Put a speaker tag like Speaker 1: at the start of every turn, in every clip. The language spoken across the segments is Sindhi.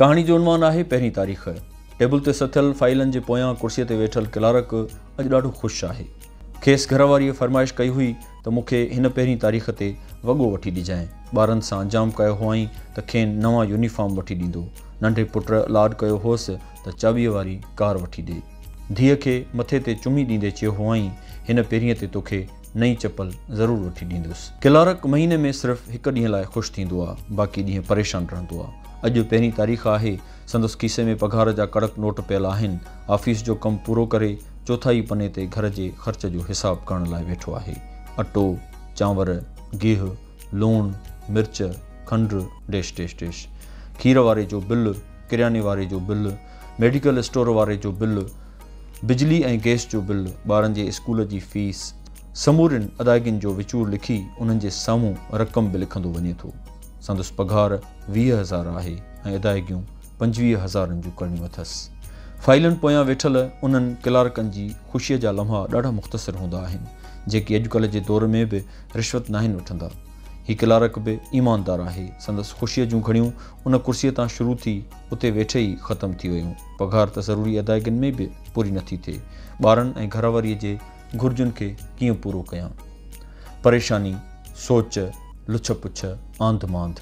Speaker 1: ڪهاڻي جو عنوان آهي پهرين تاريخ. ٽيبل تي سٿيل فائيلن جي پويان ڪرسيء تي ويٺل ڪلارڪ اڄ ڏاڍو خوش آهي. کيس گهر واريء فرمائش ڪئي هئي ته مون کي هن پهرين تاريخ تي وڳو وٺي ڏجانء. ٻارن سان جام ڪيو هئائين ته کين نوان يونيفارم وٺي ڏيندو. ننڍي پٽ لاڏ ڪيو هوس ته چاٻيء واري ڪار وٺي ڏي. ڌيء کي مٿي تي چمي ڏيندي چيو هئائين، هن پهرينء تي توکي نئين چپل ضرور وٺي ڏيندس. ڪلارڪ مهيني ۾ صرف هڪ ڏينهن لاء خوش ٿيندو آ، باقي ڏينهن پريشان رهندو آ. اڄ پهرين تاريخ آهي، سندس کيسي ۾ پگهار جا ڪڙڪ نوٽ پيل آهن. آفيس جو ڪم پورو ڪري، چوٿائي پني تي گهر جي خرچ جو حساب ڪرڻ لاء ويٺو آهي. اٽو، چانور، گيهه، لوڻ، مرچ، کنڊ، ڊيش ڊيش ڊيش. کير واري جو بل، ڪرياني واري جو بل، ميڊيڪل اسٽور واري جو بل، بجلي ۽ گئس جو بل، ٻارن جي اسڪول جي فيس، سمورين ادائگين جو وچور لکي انهن جي سامهون رقم به لکندو وڃي ٿو. سندس پگهار ويهه هزار آهي ۽ ادائگيون پنجويهه هزارن جون ڪرڻيون اٿس. فائلن پويان ويٺل انهن ڪلارڪن جي خوشيء جا لمحا ڏاڍا مختصر هوندا آهن، جيڪي اڄڪلهه جي دور ۾ به رشوت ناهن وٺندا. هي ڪلارڪ به ايماندار آهي، سندس خوشيء جون گهڙيون ان ڪرسيء تان شروع ٿي، اتي ويٺي ئي ختم ٿي ويون. پگهار ته ضروري ادائگين ۾ به پوري نه ٿي ٿئي. ٻارن ۽ گهرواريء جي گهرجن کي ڪيئن پورو ڪيان. پريشاني، سوچ، لڇ پڇ، آنڌ مانڌ.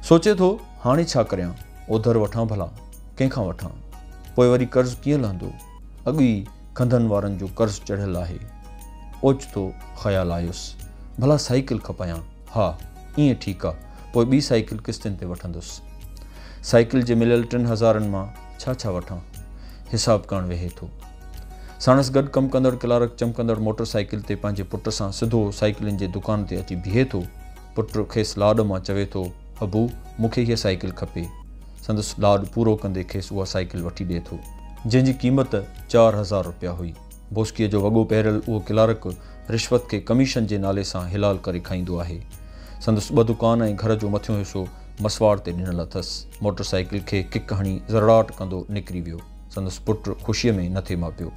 Speaker 1: سوچي ٿو هاڻي ڇا ڪريان؟ اوڌر وٺان ڀلا؟ ڪنهن کان وٺان؟ پوء وري قرض ڪيئن لهندو؟ اڳ ئي کنڌن وارن جو قرض چڙهيل آهي. اوچتو خيال آيس، ڀلا سائيڪل کپايان. ها، ائين ٺيڪ آ، پوء ٻي سائيڪل قسطين تي وٺندس. سائيڪل جي مليل ٽن هزارن مان ڇا ڇا وٺان؟ حساب ڪاڻ ويهي ٿو. ساڻس گڏ ڪم ڪندڙ ڪلارڪ چمڪندڙ موٽر سائيڪل تي پنهنجي پٽ سان سڌو سائيڪلين جي دڪان تي اچي بيهي ٿو. پٽ کيس لاڏ مان چوي ٿو، ابو، مون کي هيء سائيڪل کپي. سندس لاڏ پورو ڪندي کيس اها سائيڪل وٺي ڏئي ٿو. جنهن جي قيمت چار هزار رپيا هئي. بوسڪيء جو وڳو پهريل اهو ڪلارڪ رشوت کي ڪميشن جي نالي سان حلال ڪري کائيندو آهي. سندس ٻه دڪان ۽ گهر جو مٿيون حصو مسواڙ تي ڏنل اٿس. موٽر سائيڪل کي ڪڪ هڻي زرڙاٽ ڪندو نڪري ويو. سندس پٽ خوشيء ۾ نٿي ماپيو.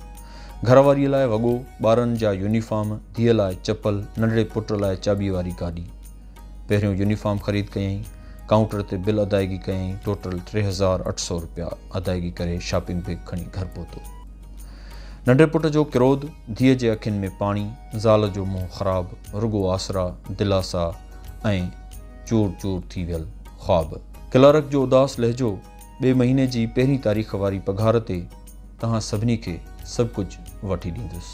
Speaker 1: گهر واريء لاء وڳو، ٻارن جا يونيفارم، ڌيء لاء چپل، ننڍڙي پٽ لاء چاٻيء واري گاڏي. پهريون يونيفارم خريد ڪيائين. ڪائونٽر تي بل ادائيگي ڪيائين. ٽوٽل ٽي هزار اٺ سؤ روپيا ادائيگي ڪري شاپنگ بيگ کڻي گهر پهتو. ننڍي پٽ جو ڪروڌ، ڌيء جي اکين ۾ پاڻي، زال جو منهن خراب، رڳو آسرا، دلاسا ۽ چور چور ٿي ويل خواب. ڪلارڪ جو اداس لهجو، ٻئي مهيني جي پهرين تاريخ واري پگهار تي توهان سڀني کي سڀ ڪجهه وٺي ڏيندس.